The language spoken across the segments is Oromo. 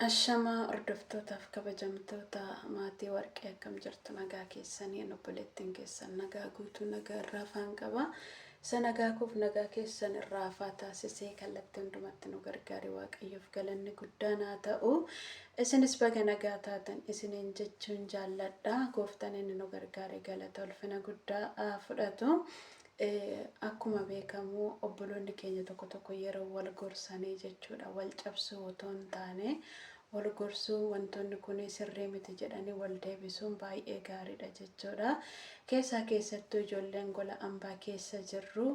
Ashamaa hordoftootaaf kabajamtoota maatii warqee akkam jirtu nagaa keessanii an obboleettiin keessan nagaa guutuu nagaa irraa faan qaba isa nagaa koof nagaa keessan irraa faa taasisee kallattii hundumatti nu gargaare waaqayyoof galanni guddaan haa ta'u isinis baga nagaa taatan isiniin jechuun jaalladha gooftaan inni nu gargaare galata ulfina guddaa haa fudhatu Akkuma beekamu obboloonni keenya tokko tokko yeroo wal gorsanii jechuudha wal cabsuu otoo hin taane wal gorsuu wantoonni kun sirrii miti jedhanii wal deebisuun baay'ee gaariidha jechuudha. Keessaa keessattuu ijoolleen gola ambaa keessa jirru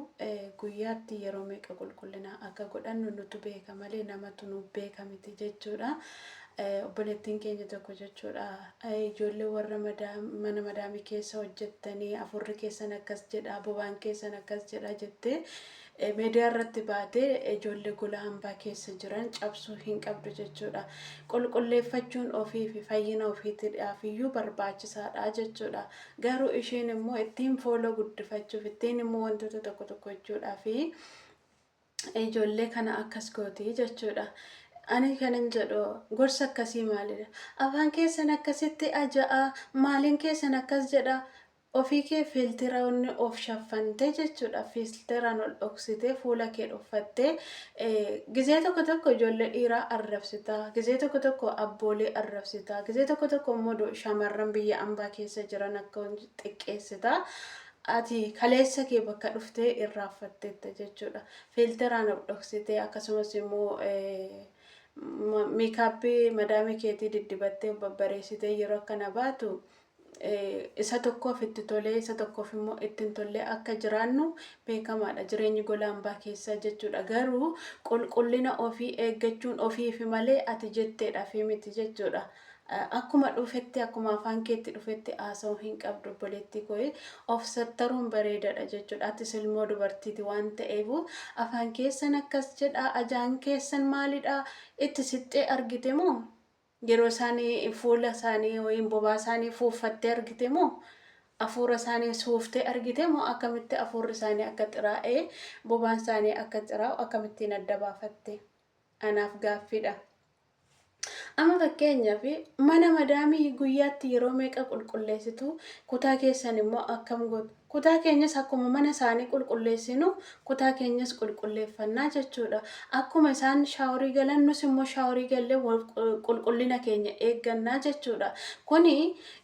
guyyaatti yeroo meeqa qulqullinaa akka godhannu nutu beeka malee namatu nuuf beeka miti jechuudha. Obboleettiin keenya tokko jechuudha ijoollee warra mana madaamii keessa hojjettanii afurri keessan akkas jedha bobaan keessan akkas jedha jettee miidiyaa irratti baatee ijoollee gola hambaa keessa jiran cabsuu hin qabdu jechuudha. Qulqulleeffachuun ofii fi fayyina ofiitiidhaaf iyyuu barbaachisaadha jechuudha. Garuu isheen immoo ittiin fooloo guddifachuuf ittiin immoo wantoota tokko tokko jechuudhaa fi ijoollee kana akkas gooti jechuudha. Ani kanin jedhu gorsa akkasii maalidha? Afaan keessan akkasitti aja'a, maaliin keessan akkas jedha, ofii kee filtiraan of shaffantee jechuudha. Filtiraan ol dhoksitee fuula kee dhoffattee gizee tokko tokko ijoollee dhiiraa arrabsitaa, gizee tokko tokko abboolee arrabsitaa, gizee tokko tokko immoo shamarran biyya ambaa keessa jiran akka xiqqeessitaa. Ati kaleessa kee bakka dhufte irraanfattetta jechuudha. Fiilteraan of dhoksitee akkasumas immoo miikaappii madaamii keetii diddibattee of babbareessitee yeroo akkana baatu isa tokkoof itti tolee isa tokkoof immoo ittiin tollee akka jiraannu beekamaadha jireenyi gola hambaa keessaa jechuudha. Garuu qulqullina ofii eeggachuun ofiifi malee ati jetteedhaaf miti jechuudha. Akkuma dhufetti akkuma afaan keetti dhufetti haasa'uu hin qabdu obboleettii koo of sattaruun bareedadha jechuudha atis ilmoo dubartiiti waan ta'eefu afaan keessan akkas jedha ajaan keessan maalidha itti siqxee argite moo yeroo isaanii fuula isaanii yookiin bobaa isaanii fuuffattee argite moo afuura isaanii suuftee argite moo akkamitti afuurri isaanii akka xiraa'ee bobaan isaanii akka xiraa'u akkamittiin adda baafatte anaaf gaaffiidha. Amma fakkeenyaaf mana madaamii guyyaatti yeroo meeqa qulqulleessitu? Kutaa keessan immoo akkam gootu? Kutaa keenyas akkuma mana isaanii qulqulleessinu kutaa keenyas qulqulleeffannaa jechuudha. Akkuma isaan shaaworii galan nus immoo shaaworii gallee qulqullina keenya eeggannaa jechuudha. Kuni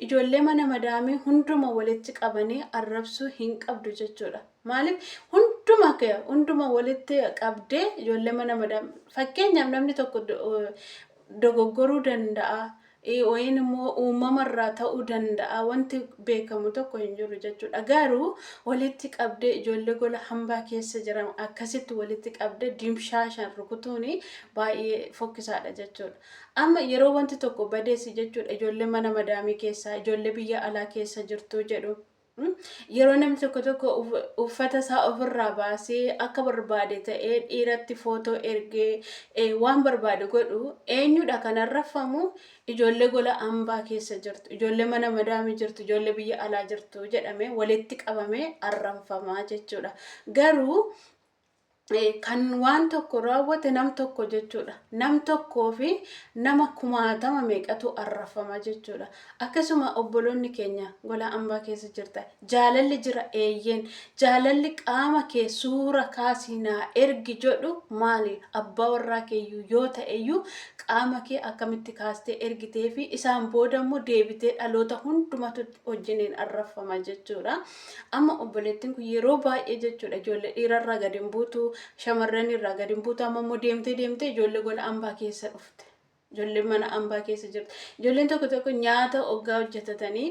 ijoollee mana madaamii hunduma walitti qabanii arrabsuu hin qabdu jechuudha. Maaliif hunduma kee hunduma walitti qabdee ijoollee mana madam fakkeenyaaf namni tokko dogoggoruu danda'a wayiin immoo uumamarraa ta'uu danda'a wanti beekamu tokko hin jiru jechuudha garuu walitti qabdee ijoollee gola hambaa keessa jiran akkasitti walitti qabdee dimshaashan rukutuun baay'ee fokkisaadha jechuudha. Amma yeroo wanti tokko badeessi jechuudha ijoollee mana madaamii keessaa ijoollee biyya alaa keessa jirtu jedhu. Yeroo namni tokko tokko uffata isaa ofirraa baasee akka barbaade ta'ee dhiiratti footoo ergee waan barbaade godhu eenyudha kan arraffamu ijoollee gola ambaa keessa jirtu ijoollee mana madaamii jirtu ijoollee biyya alaa jirtu jedhamee walitti qabamee arranfamaa jechuudha garuu kan waan tokko raawwate nam tokko jechuudha. Nam tokkoo fi nama kumaatama meeqatu arrafama jechuudha. Akkasuma obboloonni keenya gola ambaa keessa jirta. Jaalalli jira eeyyeen. Jaalalli qaama kee suura kaasii naa ergi jedhu maali? Abbaa warraa keeyyuu yoo ta'eyyuu qaama kee akkamitti kaastee ergitee fi isaan booda immoo deebitee dhaloota hundumatu wajjiniin arrafama jechuudha. Amma obboleettiin kun yeroo baay'ee jechuudha ijoollee dhiira irraa gad hin buutu, shamarran irraa gad hin buutu, amma immoo deemtee deemtee ijoollee gola ambaa keessa dhufte. Ijoolleen mana ambaa keessa jirti. Ijoolleen tokko tokko nyaata oggaa hojjetatanii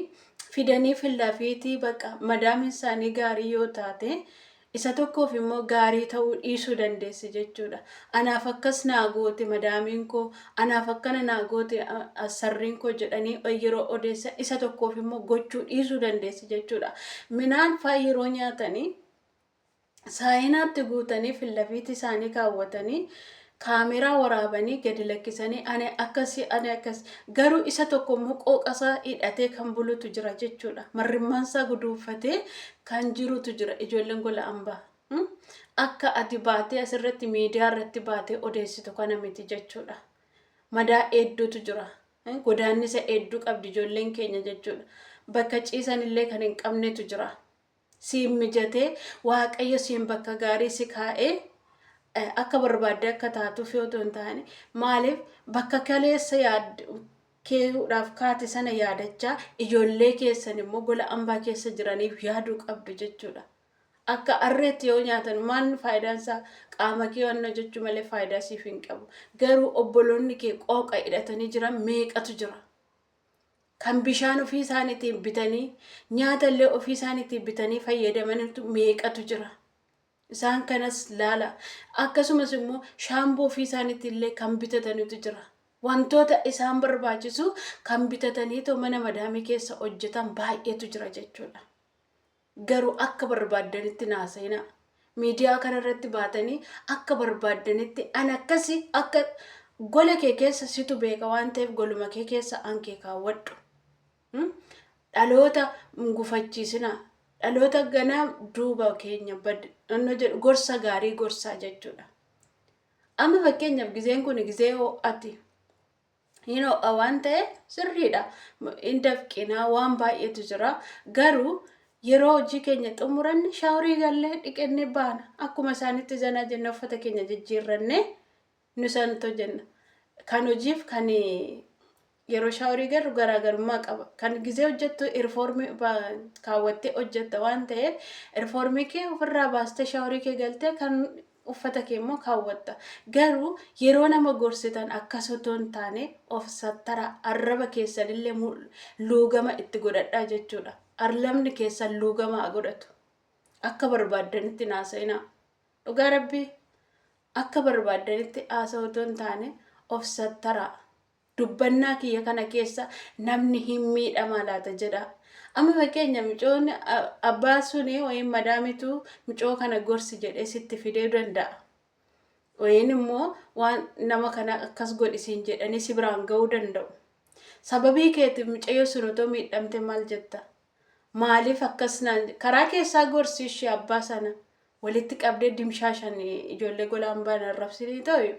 fidanii fillafiitii bakka madaamin isaanii gaarii yoo taate Isa tokkoof immoo gaarii ta'uu dhiisuu dandeessi jechuudha. Anaaf akkas naa goote madaamiin koo, anaaf akkana naa goote sarriin koo jedhanii yeroo odeessan isa tokkoof immoo gochuu dhiisuu dandeessi jechuudha. Minaan faa yeroo nyaatanii saayinaatti guutanii fillafiitii isaanii kaawwatanii Kaameraa waraabanii gadi lakkisanii ani akkasi ani akkas garuu isa tokko immoo qooqasaa hidhatee kan bulutu jira jechuudha. Marrimmaansaa guduunfatee kan jirutu jira ijoolleen gola ambaa. Hmm? Akka ati baatee asirratti miidiyaa irratti baatee odeessitu kana miti jechuudha. Madaa hedduutu jira. Hmm? Godaannisa hedduu qabdi ijoolleen keenya jechuudha. Bakka ciisan illee kan hin qabnetu jira. siin mijate waaqayyo siin bakka gaarii si kaa'ee eh, akka barbaadde akka taatuuf yoo ta'u hin taane maaliif bakka kaleessa yaad keehuudhaaf kaate sana yaadachaa ijoollee keessan immoo gola ambaa keessa jiraniif yaaduu qabdu jechuudha. Akka arreetti yoo nyaatan maan faayidaan isaa qaama kee waan hojjechuu malee faayidaa siif hin qabu. Garuu obboloonni kee qooqa hidhatanii jiran meeqatu jira. kan bishaan ofii isaaniitiin bitanii nyaata illee ofii isaaniitiin bitanii fayyadamantu meeqatu jira. Isaan kanas laala. Akkasumas immoo shaamboo ofii isaaniitiin illee kan bitatanitu jira. Wantoota isaan barbaachisu kan bitataniitoo mana madaamii keessa hojjetan baay'eetu jira jechuudha. Garuu akka barbaaddanitti naa seenaa. Miidiyaa kana irratti baatanii akka barbaaddanitti an akkasi akka gola kee keessa situ beeka waan ta'eef goluma kee keessa an kee kaawwadhu. Hmm? Dhaloota hin gufachiisinaa. Dhaloota ganaa duuba keenya bad anno jedhu gorsa gaarii gorsaa jechuudha. Amma fakkeenyaaf gizeen kun gizee ho'ati. hin ho'a waan ta'e sirriidha hin dafqinaa waan baay'eetu jira garuu yeroo hojii keenya xumuranne shaaworii gallee dhiqannee baana akkuma isaanitti zanaa jenna uffata keenya jijjiirrannee nu santo jenna kan hojiif kan yeroo shaaworii garru garaagarummaa qaba kan gizee hojjettu irfoormii kaawwattee hojjetta waan ta'eef irfoormii kee ofirraa baastee shaaworii kee galtee kan uffata kee immoo kaawwatta. Garuu yeroo nama gorsitan akkas otoo hin taane of sattaraa, arraba keessan illee luugama itti godhadhaa jechuudha. Arrabni keessan luugama haa godhatu. Akka barbaaddanitti hin haasa'inaa. Dhugaa Rabbii akka barbaaddanitti haasa'u otoo hin taane of sattaraa. Dubbannaa kiyya kana keessa namni hin miidhamaa laata jedhaa. Amma fakkeenya micoon abbaa suni wayin madaamitu micoo kana gorsi jedhee sitti fidee danda'a. Wayin immoo waan nama kana akkas godhisiin jedhanii si biraan ga'uu danda'u. Sababii keetiif micayyoo sun otoo miidhamte maal jetta? Maaliif akkas naan je- karaa keessaa gorsi ishee abbaa sana walitti qabdee dimshaashan ijoollee golaan baan arrabsinii ta'u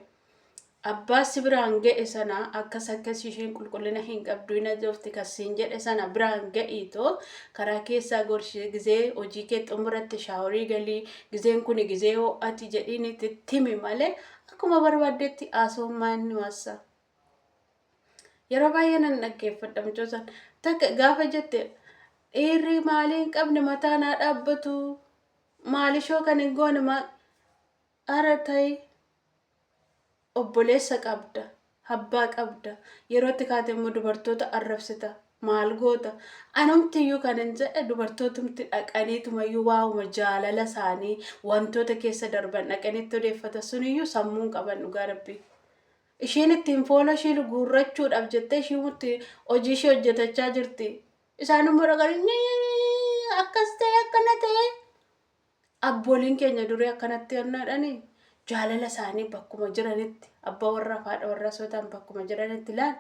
abbaa si biraan ga'e sana akkas akkas isheen qulqullina hin qabdu hin ajofti kan siin jedhe sana biraan ga'iitoo karaa keessaa gorsi gizee hojii kee xumuratti shaaworii galii gizeen kun gizee ho'ati jedhiin itti timi malee akkuma barbaaddetti haasawummaa inni waassa Yeroo baay'ee nan dhaggeeffadha mucoo san. Takka gaafa jette dhiirri maalii hin qabne mataa naa dhaabbatu maalishoo kan hin goone maa ara ta'i obboleessa qabda abbaa qabda yerootti kaate immoo dubartoota arrabsita maal goota anumti iyyuu kan hin jedhe dubartootumti dhaqaniitumayyuu waa'uma jaalala isaanii wantoota keessa darban dhaqanitti odeeffata suniyyuu sammuun qaban dhugaa rabbii. Ishiin ittiin foona ishii guurrachuudhaaf jettee ishii itti hojii ishii hojjetachaa jirti. Isaan immoo dhaqanii "Nyii, akkas ta'e akkana ta'e. Abbooliin keenya durii akkanatti hannaadhani jaalala isaanii bakkuma jiranitti abbaa warraa fi haadha warraa osoo ta'an bakkuma jiranitti laal.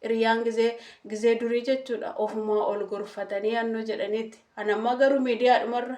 Hiriyaan gizee gizee durii jechuudha ofumaa ol gorfatanii hannoo jedhaniiti. Anammaa garuu miidiyaadhumarra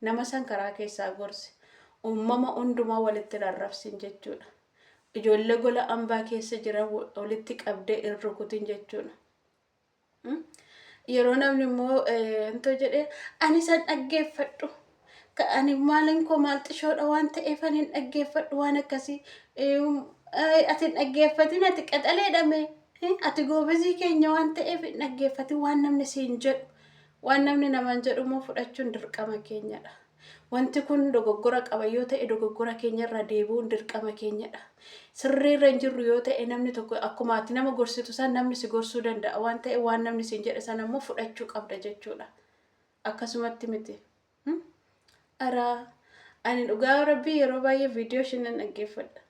Nama san karaa keessaa gorsi. Uummama hundumaa walitti hin arrabsin jechuudha. Ijoollee gola ambaa keessa jiran walitti qabdee hin rukutin jechuudha. Yeroo namni immoo intoo jedhee ani san dhaggeeffadhu. Ani maalin koo maal xishoodha waan ta'eef ani hin dhaggeeffadhu waan akkasii. Ati hin dhaggeeffatin ati qaxaleedha mee. Ati goobazii keenya waan ta'eef hin dhaggeeffatin waan namni siin jedhu. Waan namni namaan jedhu immoo fudhachuun dirqama keenyadha. Wanti kun dogoggora qaba yoo ta'e dogoggora keenyarraa deebi'uun dirqama keenyadha. Sirriirra hin jirru yoo ta'e namni tokko akkuma ati nama gorsitu san namni si gorsuu danda'a waan ta'e waan namni siin jedhe sana immoo fudhachuu qabda jechuudha. Akkasumatti miti. Ara ani dhugaa rabbii yeroo baay'ee viidiyoo isheen nan dhaggeeffadha.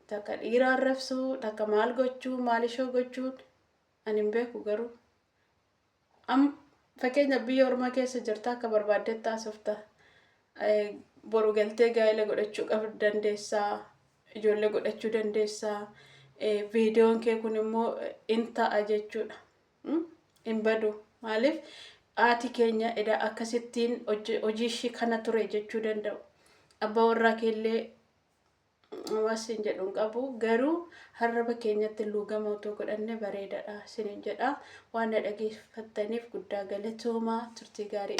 Takka dhiira arrabsuu, takka maal gochuu, maal ishoo gochuun ani hin beeku garuu. Am fakkeenyaaf biyya ormaa keessa jirta akka barbaaddetti haasofta. Eh, Boru galtee gaa'ela godhachuu qab dandeessaa, ijoollee godhachuu dandeessaa. Eh, Viidiyoon kee kun immoo eh, in ta'a jechuudha. Mm? Hin badu. Maaliif haati keenya edaa akkasittiin hojii hojii ishii kana ture jechuu danda'u. Abbaa warraa keellee Waan siin jedhu hin qabu. Garuu harraba keenyatti luugama otoo godhanne bareedadha sinin jedha. Waan na dhageeffattaniif guddaa galatoomaa turtii gaarii.